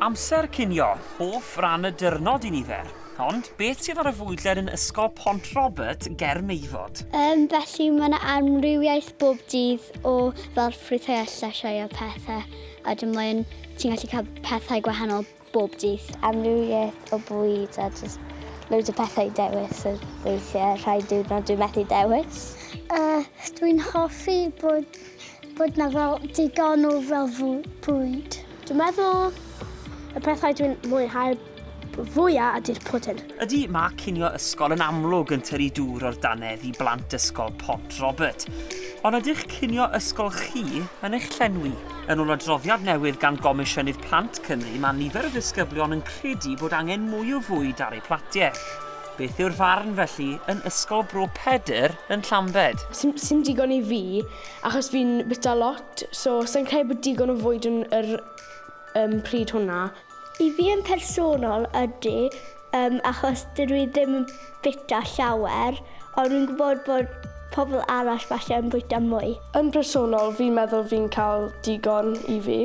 Amser cinio, hoff ran y dyrnod i nifer. Ond, beth sydd ar y fwydlen yn Ysgol Pont Robert ger Meifod? Yym, felly mae 'na amrywiaeth bob dydd o fel ffrwythau a llysiau a pethe, a wedyn mae'n... ti'n gallu cael pethau gwahanol bob dydd. Amrywiaeth o bwyd a jyst loads o pethe i dewis a weithie rhai diwrnod dwi methu dewis. Yy, dwi'n hoffi bod Bod na fel digon o fel bwyd. Dwi'n meddwl y pethau dwi'n mwynhau fwya ydy'r pwdin. Ydy, mae cinio ysgol yn amlwg yn tynnu dŵr o'r dannedd i blant ysgol Pont Robert. Ond ydych cinio ysgol chi yn eich llenwi? Yn ôl adroddiad newydd gan Gomisiynydd Plant Cymru, mae nifer o ddisgyblion yn credu bod angen mwy o fwyd ar eu platiau. Beth yw'r farn felly yn Ysgol Bro Pedr yn Llambed? Sim digon i fi achos fi'n bita lot so sai'n credu bod digon o fwyd yn yr um, pryd hwnna. I fi yn personol ydy um, achos dydw i ddim yn bita llawer ond fi'n gwybod bod pobl arall falle yn bwyta mwy. Yn personol fi'n meddwl fi'n cael digon i fi.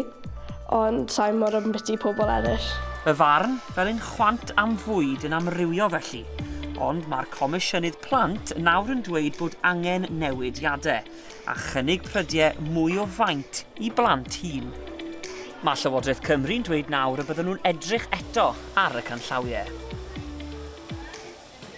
ond sa'i mor ambiti pobl eraill. Fy farn, fel un chwant am fwyd yn amrywio felly, ond mae'r Comisiynydd Plant nawr yn dweud bod angen newidiade, a chynnig prydie mwy o faint i blant hŷn. Mae Llywodraeth Cymru'n dweud nawr y bydden nhw'n edrych eto ar y canllawie.